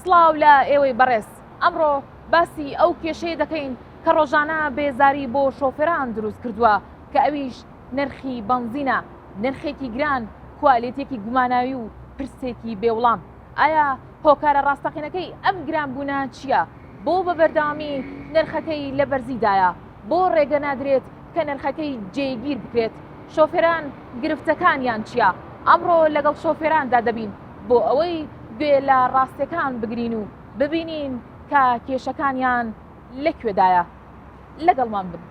سڵاو لە ئێوەی بەڕێز ئەمڕۆ باسی ئەو کێشەیە دەکەین کە ڕۆژانە بێزاری بۆ شۆفێران دروست کردووە کە ئەویش نرخی بەنزینە نرخێکی گران کوالێتێکی گوماناوی و پرسێکی بێوڵام ئایا هۆکارە ڕاستەقینەکەی ئەم گرانبوونە چییە؟ بۆ بە بەردەوامی نرخەکەی لە بەرزیدایە؟ بۆ ڕێگە نادرێت کە نرخەکەی جێگیر بکرێت؟ شۆفێران گرفتەکانیان چییە؟ ئەمڕۆ لەگەڵ شۆفێراندا دەبین بۆ ئەوەی گوێ لە ڕاستیەکان بگرین و ببینین کە کێشەکانیان لەکوێدایە. لەگەڵمان بن.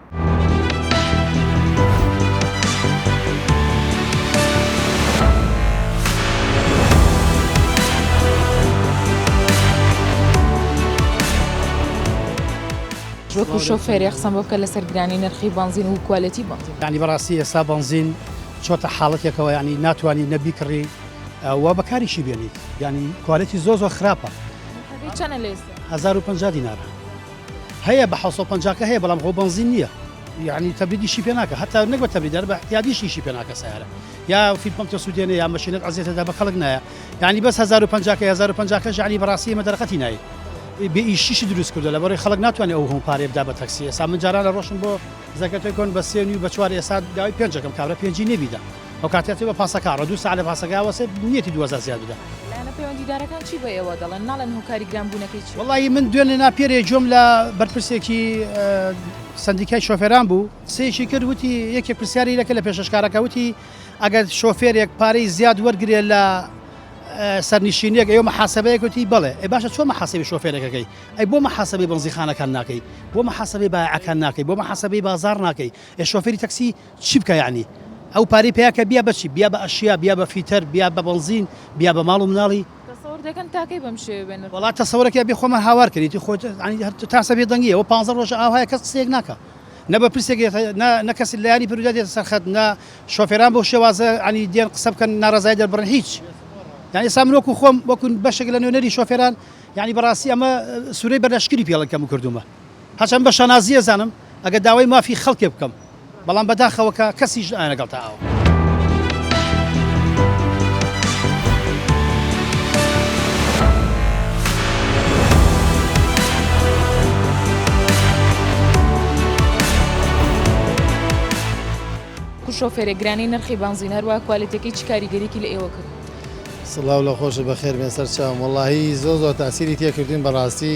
وەکو شۆفێری قسەم بۆ بکە لەسەر گرانی نرخی بنزین و کوالەتی بنزین ینی بەڕاستی ئێستا بنزین چۆتە حاڵەتێکەوە ینی ناتوانانی نەبی کڕی وا بەکاریشی بێنیت ینی کوالەتی زۆ زۆر خراپە 15 دینارە هەیە بە حەوت سەد و پەنجا کە هەیە بەڵام خۆ بەنزین نییە یانی تەبریدی شی پێ ناکە هەتا نەک بە تەبریدار بە احتیادیشی شی پێ ناکە سیارە یا فیل پمپ تۆ سوودێنێ یا مەشینەت عزیێتەدا بە خەڵک نایە یعنی بەس 1050 کە 1050 کە ژعلی بەڕاستی مە دەرقەتی نایت بێ ئیشیشی دروست کردو لە بەڕی خەڵک ناتوانێت ئەو هەم پارێ بدا بە تەکسی ئێسا من جاران لە ڕۆشن بۆ زەکەتەکۆن بە سێنی و بە چوار ئێسا داوای پێنجەکەم کابرا پێنجی نێبیدا ئەو کاتەی ئەچێت بە پاسەکە ڕێ دوو سەعات لە پاسەکە ئەوەسێت نیەتی دوو هەزار زیاد بدات. لایەنە پەیوەندیدارەکان چی بە ئێوە دەڵێن؟ ناڵێن هۆکاری گرانبوونەکەی چییە؟ وەڵاهی من دوێن لە ناپیێرێ گوێم لە بەرپرسێکی سەندیکای شۆفێران بوو قسەیەکی کرد وتی یەکێک پرسیاری لەکە لە پێشەشکارەکە وتی ئەگەر شۆفێرێک پارەی زیاد وەرگێ لە سەرنیشینێک ئێوە محاسبەیە کوتی بڵێ ئە باشە چۆن محاسبی شۆفێرەکەەکەی ئەی بۆ محاسبی بنزیخانەکان ناکەی بۆ محاسبی باعەکان ناکەی بۆ محاسبی بازار ناکەی ئێ شۆفێری تەکسی چی بکا یەعنی ئەو پارەی پیا کە بیا بەچی بیا بە ئەشیا بیا بە فیتەر بیا بە بەنزین بیا بە ماڵ و مناڵی. تەسەور دەکەن تا کەی بەم شێوەیە بێ نرخ وەڵا بمێنن. تەسەورەکەی ئەبێ خۆمان هاوار کەین ئیتر خۆ یەعنی هەر تاسە بێ دەنگیە وە پانزە ڕۆژە ئاوهایە کەس قسەیەک ناکا نە بەرپرسێک دێتە نە نە کەسی لایەنی پەرویدا دێتە سەر خەت نە شۆفێران بەو شێوازە یەعنی دێن قسە بکەن ناڕەزایی دەربڕن هیچ یەعنی ئێستا من وەکو خۆم وەکو بەشێک لە نوێنەری شۆفێران یەعنی بەڕاستی ئەمە سورەی بەرلەشکری پێڵن کەمو کردومە. هەرچەند بە شانازی ئەزانم ئەگەر داوای مافی خەڵکێ بکەم بەڵام بەداخەوە کە کەسیش نایە لەگەڵ تا ئاوا. کو شۆفێرێ گرانی نرخی بانزین هەروە کوالێتەکەی چ کاریگەریکی لە ئێوە کرد؟ سڵاو لە خۆش بەخێر بێن سەر چاوم وەڵاهی زۆر زۆر تاسیری تێکردین بەڕاستی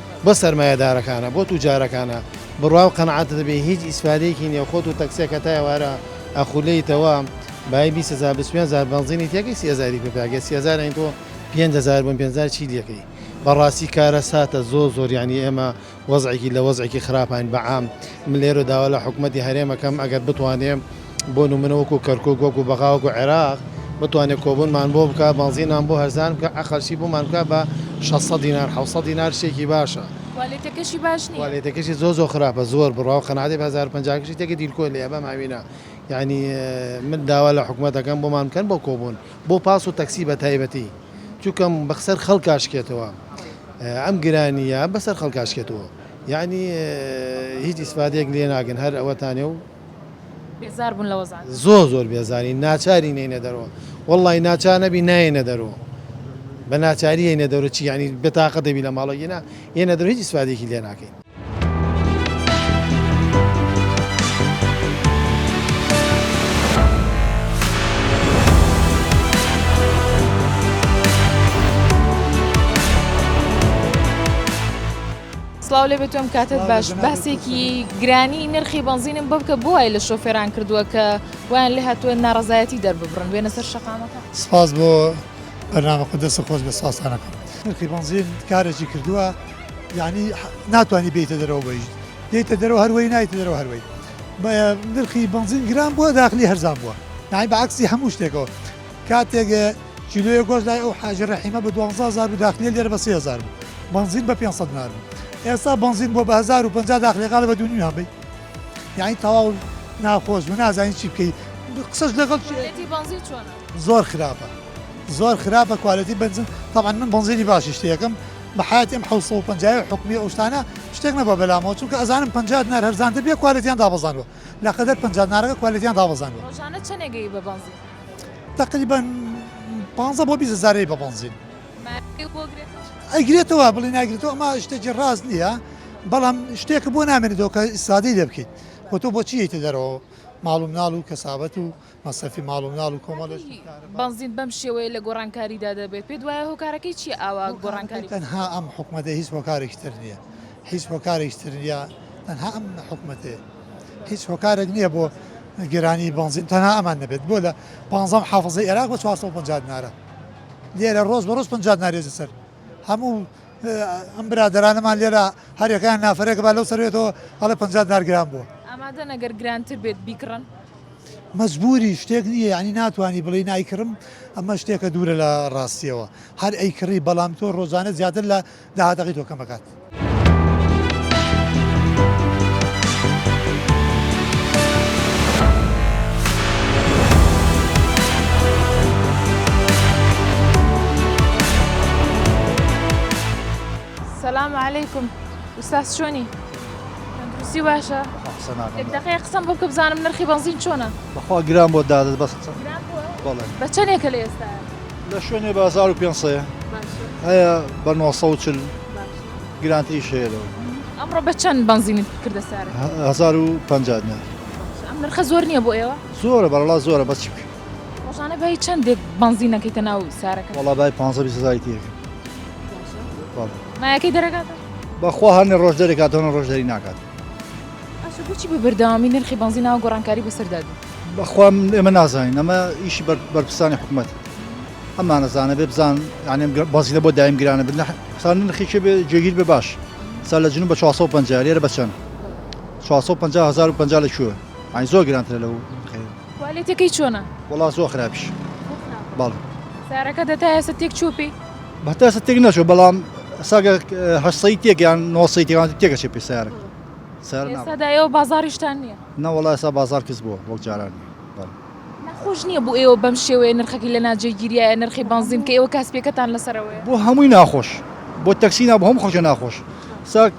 بۆ سەرمایەدارەکانە بۆ توجارەکانە بڕوا و قەناعەتت بێ هیچ ئیسفادەیەکی نیە خۆت و تەکسیەک هەتا ئێوارە ئەخولێیتەوە بایی بیست هەزار بیست و پێنج هەزار بەنزینی تێکەی سی هەزاری پێ پێاکرێ سی هەزار یانی تۆ پێنج هەزار بوون پێنج هەزار چی لێکەی بەڕاستی کارەساتە زۆر زۆر یانی ئێمە وەزعێکی لە وەزعێکی خراپاین بەعام من لێرە داوا لە حکومەتی هەرێم ئەکەم ئەگەر بتوانێ بۆ نمونە وەکو کەرکوک وەکو بەغا وەکو عێراق بتوانێ کۆبونمان بۆ بکا بەنزینمان بۆ هەرزان بکە ئەقەلشی بۆمان بکا بە شەست سەد دینار حەوت سەد دینار شتێکی باشە کوالێتەکەشی باش نیە. کوالێتەکەشی زۆر زۆر خراپە زۆر بڕاو قەناتێ بە هەزار و پەنجا کەشی تێکە دیلکۆ لێیە بەم هاوینە یانی من داوا لە حکومەت ئەکەم بۆمان بکەن بۆ کۆبون بۆ پاس و تەکسی بە تایبەتی چونکەم بەخسەر خەڵکا شکێتەوە ئەم گرانیە بەسەر خەڵکا شکێتەوە. یەعنی هیچ ئیسفادەیەک لێ ناگرن هەر ئەوەتانە و. بێزار بوون لە وەزعەکە. زۆر زۆر بێزارین ناچارین یەینە دەرەوە وەڵڵای ناچار نەبی نایەینە دەرەوە بە ناچاری یەینە دەرەوە چی یەعنی بێتاقەت دەبی لە ماڵەوە ئینا یەینە دەرەوە هیچ ئیسفادەیەکی لێ ناکەین. سڵاو لێ بێتۆم کاتت باش باسێکی گرانی نرخی بنزینم بۆ بکە بۆی لە شۆفێران کردووە کە وان لە هاتووە ناڕزایەتی دەرببڕن وێنە سەر شقامەکە سپاس بۆ بەنامە خۆ دەست خۆش بە ساسانەکە نرخی بنزین کارێکی کردووە یعنی ناتوانانی بێتە دەرەوە بەیش دێتە دەرەوە هەروەی نایتە دەرەوە هەروەی نرخی بنزین گران بووە داخلی هەرزان بووە نای بەعکسی هەموو شتێکەوە کاتێک کیلۆیەک گۆشت لای ئەو حاجی رەحیمە بە دوانزە هەزار بوو داخلیە لێرە بە سێ هەزار بوو بەنزین بە پێنج سەد دینار بوو ئێستا بەنزین بۆ بە هەزار و پەنجا داخلیە قالە بە دوو نیو هەبەی یعنی تەواو ناخۆش بوو نازانین چی بکەی قسەش لەگەڵ کوالێتی بەنزین چۆنە زۆر خراپە زۆر خراپە کوالێتی بەنزین طبعا من بەنزینی باشی شتێکم بە حیاتیم حوسڵ و پەنجای حکومی ئەو شتانە شتێک نەبە بەلامەوە چونکە ئەزانم پەنجا دینار هەرزانتر بێ کوالێتیان دابەزاندوە لە قەدەر پەنجا نارەکە کوالێتیان دابەزاندووە. ڕۆژانە چەنێ گەیی بە بەنزین؟ تەقریبەن پانزە بۆ بیست هەزارەی بە بەنزین. ماوەیەک بۆ گرێتەوە؟ ئەیگرێتەوە بڵێی ناگرێتەوە ئەمە شتێکی ڕاست نییە، بەڵام شتێکە بۆ نامێنێتەوە کە ئیسفادەی لێ بکەیت و تۆ بۆچی یەیتە دەرەوە ماڵ و مناڵ و کەسابەت و مەسرەفی ماڵ و مناڵ و کۆمەڵێک کارەبا. بەنزین بەم شێوەیە لە گۆڕانکاریدا دەبێت، پێت وایە هۆکارەکەی چییە ئاوا گۆڕانکاری بکات؟ هۆکارەکەی تەنها ئەم حکومەتە هیچ هۆکارێکی تر نییە، هیچ هۆکارێکی تر نییە، تەنها ئەم حکومەتەیە، هیچ هۆکارێک نییە بۆ گرانی بەنزین تەنها ئەمان نەبێت، بۆ لە پانزە محافزەی عێراق بە چوار سەد و پەنجا دینارە لێرە ڕۆژ بە ڕۆژ پەنجا دینار یەتە سەر هەموو ئەم برادەرانەمان لێرە هەر یەکەیان نافەرێک با لەو سەروێتەوە ئەڵێ پەنجا دینار گران بووە. ئامادەن ئەگەر گرانتر بێت بیکڕن؟ مەجبوری شتێک نیە یانی ناتوانی بڵێی نایکڕم ئەمە شتێکە دوورە لە ڕاستیەوە هەر ئەی کڕی بەڵام تۆ ڕۆژانە زیاتر لە داهاتەکەی تۆ کەمەکات. سلام علیکم ئوستاز چۆنی؟ تەندروستی باشە دەقەیە قسەم بۆ بکە بزانم نرخی بەنزین چۆنە بەخوا گران بۆ دادت بەس بە چەندێکە لە ئێستا لە شوێنێ بازار و پێنسەیە هەیە بە 940 گرانتری شێرەوە ئەمڕۆ بە چەند بەنزینت کردە سارە 1950 ئەم نرخە زۆر نییە بۆ ئێوە زۆرە بەڵا زۆرە بەچ ڕۆژانە بای چەندێک بەنزین نەکەیتە ناو سارەکە وڵا بای پ بیست هزاری تێکم بەڵێ مایەکەی دەرەکاتە بەخوا هەرنێ ڕۆژ دەرەکاتەوە ڕۆژ دەری ناکات ئەشە بچی بە بەردەوامی نرخی بەنزی ناو گۆڕانکاری بەسەردا بوو بەخوام ئێمە نازانین ئەمە ئیشی بەرپرسانی حکوومەت ئەمانەزانە بێ بزان یانێم بەزیینە بۆ دایم گرانە بنە سان نرخێکی بێ جێگیر بێ باش سا لە جنوب بە 450 لێرە بەچەند 450 هزار و 50 لە کوێ ئای زۆر گرانترە لەو خێ کوالێتیەکەی چۆنە؟ وەڵا زۆر خراپیش بەڵێ. سارەکەت هەتا ئێستا تێک چووە پێی؟ هەتا ئێستا تێک نەچووە بەڵام ساگە هەشت سەی تێک یان نۆ سەی تێکەوان تێکەچێ پێ سارە سارە ناوە. ئێستادا ئێوە بازاڕیشتان نییە؟ نە وەڵا ئێستا بازاڕ کز بووە وەک جاران نییە بەڵێ. ناخۆش نییە بۆ ئێوە بەم شێوەیە نرخەکەی لە ناجێگیریایە نرخی بەنزین کە ئێوە کاسپیەکەتان لەسەرەوەیە؟ بۆ هەمووی ناخۆش بۆ تەکسی نا بۆ هەموو خەڵکێ ناخۆش سا.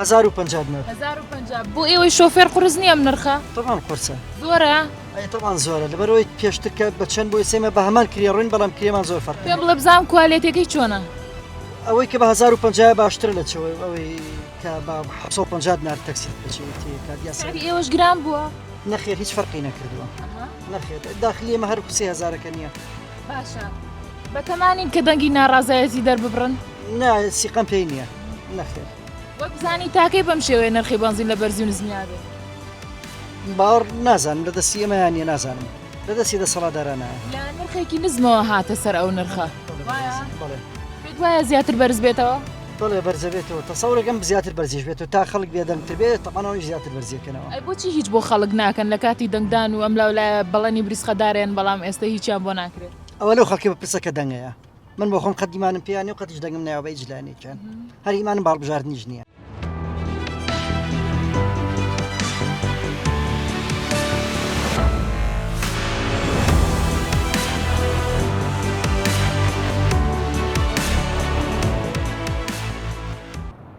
هەزار و پەنجا دینار هەزار و پەنجا بۆ ئێوەی شۆفێر قورس نییە ئەم نرخە تەبان قورسە زۆرە ئەی تەبان زۆرە لەبەرەوەی پێشتر کە بە چەند بۆی سێمە بە هەمان کرێ ڕوین بەڵام کرێمان زۆر فەرق پێم بڵێ بزانم کوالێتەکەی چۆنە ئەوەی کە بە هەزار و پەنجا باشترە لە چەوەی ئەوەی کە بە حەفسە و پەنجا دینار تەکسی بچێت کار دیاسە سعری ئێوەش گران بووە نەخێر هیچ فەرقی نەکردووە ئەها، نەخێر داخلی ئێمە هەر سێ هەزارەکە نییە باشە بەتەمانین کە دەنگی ناڕازایەتی دەرببڕن نا سیقەم پێی نییە نەخێر وەک بزانی تاکەی بەم شێوەیە نرخی بەنزین لە بەرزی و نزمیا بێت باوەڕ نازانم لە دەستی ئەمەیان نیە نازانم لە دەستی دەسەڵاتدارانە لە نرخێکی نزمەوە هاتە سەر ئەو نرخە وایە زیاتر بەرز بێتەوە بڵێ بەرزەبێتەوە تەسەورەکەم زیاتر بەرزیش بێت و تا خەڵک بێدەنگتر بێت تەمانەوەی زیاتر بەرزیەکەنەوە ئەی بۆچی هیچ بۆ خەڵک ناکەن لە کاتی دەنگدان و ئەم لاولایە بەڵەنی بریسقەدارێن بەڵام ئێستا هیچیان بۆ ناکرێت ئەوە لەو خەڵکی بپرسە کە دەنگەیە من بۆ خۆم قەت دیمانم پێیانێ و قەتیش دەنگم ناوە بە هیچ لایەنێکیان هەر ئیمانم باڵبژاردنیش نییە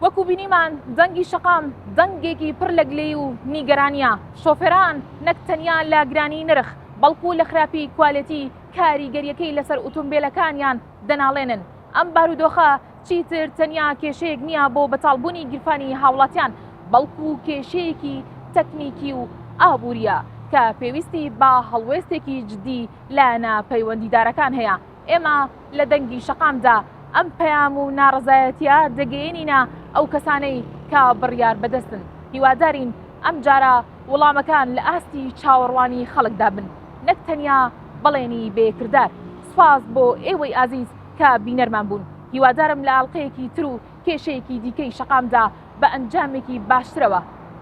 وەکو بینیمان دەنگی شەقام دەنگێکی پڕ لە گلەی و نیگەرانە شۆفێران نەک تەنیا لە گرانی نرخ بەڵکو لە خراپی کوالەتی کاریگەرییەکەی لەسەر ئوتومبێلەکانیان دەناڵێنن، ئەم بارودۆخە چیتر تەنیا کێشەیەک نییە بۆ بەتاڵبوونی گیرفانی هاوڵاتیان، بەڵکو کێشەیەکی تەکنیکی و ئابوورییە کە پێویستی بە هەڵوێستێکی جددی لایەنە پەیوەندیدارەکان هەیە، ئێمە لە دەنگی شەقامدا ئەم پەیام و ناڕەزایەتییە دەگەیەنینە ئەو کەسانەی کە بڕیاربەدەستن، هیوادارین ئەمجارە وڵامەکان لە ئاستی چاوەڕوانی خەڵکدا بن. نەک تەنیا بەڵێنی بێ کردار. سوپاس بۆ ئێوەی ئازیز کە بینەرمان بوون. هیوادارم لە ئاڵقەیەکی تر و کێشەیەکی دیکەی شەقامدا بە ئەنجامێکی باشترەوە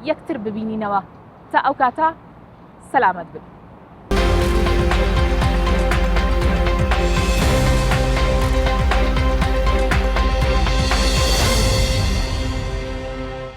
یەکتر ببینینەوە. تا ئەو کاتە سەلامەت بن.